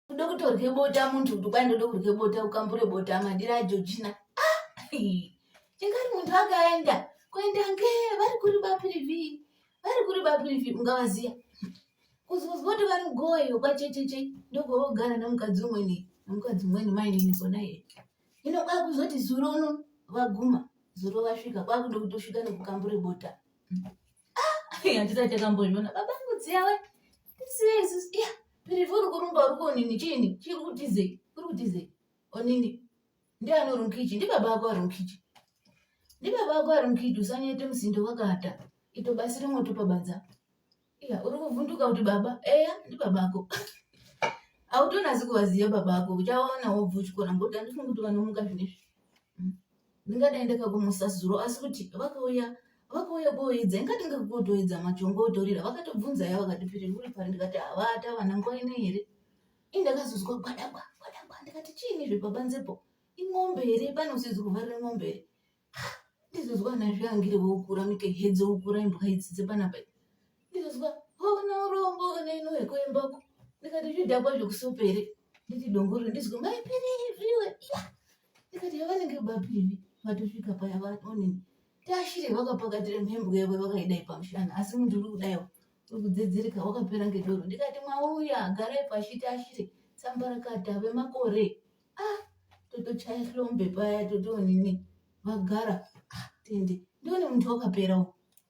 kuda kutorye bota muntu kuti kwai ndoda kurye bota ukambure bota madira ajojina ah, chingari muntu akaenda kuenda nge vari kuri bapirivi vari kuri bapirivi ungavaziya kuzozwa kuti vari goyo kwachecheche ndogovogara nemukadzi umweni nemukadzi umweni mainini kona iye ino kwakuzoti zuro uno vaguma zuro vasvika kwakuda kutosvika nekukambure bota handisati takambozviona baba ngudziyawe ya pirifu uri kurumba uri konini chiini chiri kutizei uri kutizei onini ndiani uri mukichi ndibaba ako ari mukichi ndibaba ako ari mukichi usanyete musindo wakata ito basi rimwe topabanza iya uri kuvhunduka kuti baba eya ndibaba ako hautonasi kuvaziva baba ako uchawaona wobva uchikona ngokuti andifungi kuti vanomuka zvinezvi ndingadai ndakakumusa zuro asi kuti vakauya vakauya kuoidza ingati ngakutoidza machongo otorira vakatobvunza ya vakati piri uri pari ndikati havata vana nguva ino here i ndakazozwa gwadagwa gwadagwa ndikati chiini izvi pabanzepo imombe here pane usizi kuvharira mombe here ndizozwa ana zviangire vokura mike hedzo ukura imbwa idzi dzepanapa ndizozwa hona urombo kana ino hwekoembako ndikati zvidhakwa zvekusopere nditi dongoriro ndizwa maipiri zviwe yeah. ndikati yavanenge bapiri vatosvika paya vanonini tashire vakapakatira mhembwe yavo vakaidai pamushana asi muntu uri kudaiwo uri kudzidzirika wakapera ngedoro ndikati mwauya garai pashi tashire sambarakata vemakore ah totochaya hlombe paya totonini vagara ah tende ndione muntu wakaperawo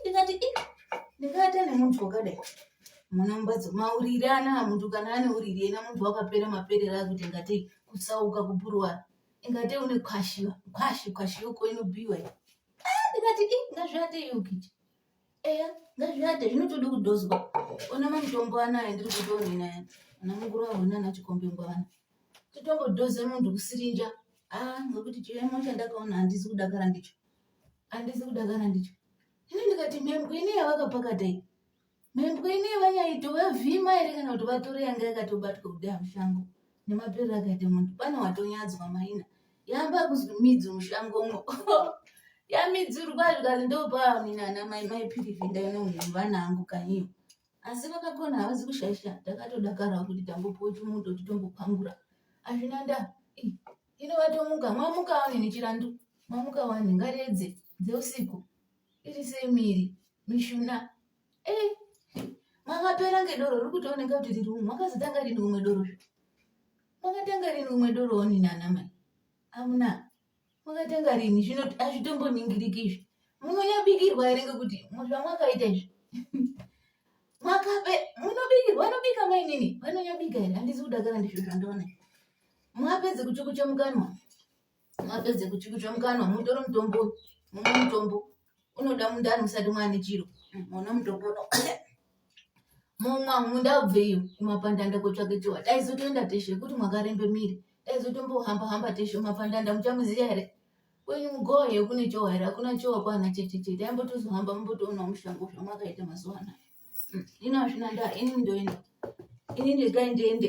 ndikati ndikaata nemuntu wakadai munombadzo mauriri ana muntu kana ane uriri ena muntu wakapera maperera akuti ingatei kusauka kupuruwa ingatei une kwashi kwashi kwashi yoko inobiwa ah, ndikati i ngazviate yokiti eya ngazviate zvinotodi kudhozwa ona mamutombo anaya ndiri kutoonenaya ana mukuru ahona ana chikombe ngwavana totongobdoze muntu kusirinja a ah, ngokuti chiremo chandakaona handisi kudakara ndicho handisi kuda kana ndicho ini ndikati mhembwe ine yavakapakata iyi mhembwe ine vanyaito vavhima here kana kuti vatore yanga yakatobatwa kudaya mushango nemapere akaita munhu pane watonyadzwa maina yamba kuzwi midzi mushango mo yamidzirwa zvikazi ndopaamina ana mai mai pirivi ndainonhu vana angu kanyiyo asi vakakona havazi kushaisha takatodakarawo kuti tambopuwa chimundo titombopangura hazvina ndaa Ino vatomuka, mamuka wani nechirandu, mamuka wani ngaredze dzeusiku iri semiri mishuna eh, makapera ngedoro riri kutooneka kuti riri umwe makazotanga rini umwe doro zvo makatanga rini umwe doro wani nana mai amuna makatanga rini zvino azvitomboningiriki izvi munonyabikirwa here ngekuti zvamwakaita izvi makabe munobikirwa anobika mainini vanonyabika here handisi kudakara ndizvo zvandoona mwapedze kuchukucha mukanwa mwapedze kuchukucha mukanwa mutore mutombo mumwe mutombo unoda mundani musati mwane chiro mona mutombo uno mumwa munda ubveyo kumapandanda kotsvake chiwa taizotoenda teshe kuti mwakarembe miri taizotombohamba hamba teshe mapandanda muchamuziya here kwenyu mugoye kune chowa here hakuna chowa kwana chete chete aimbotozohamba mumbotoona mushango zvamwakaita mazuva anaya ino hazvina ndaa ini ndoenda ini ndega ndiende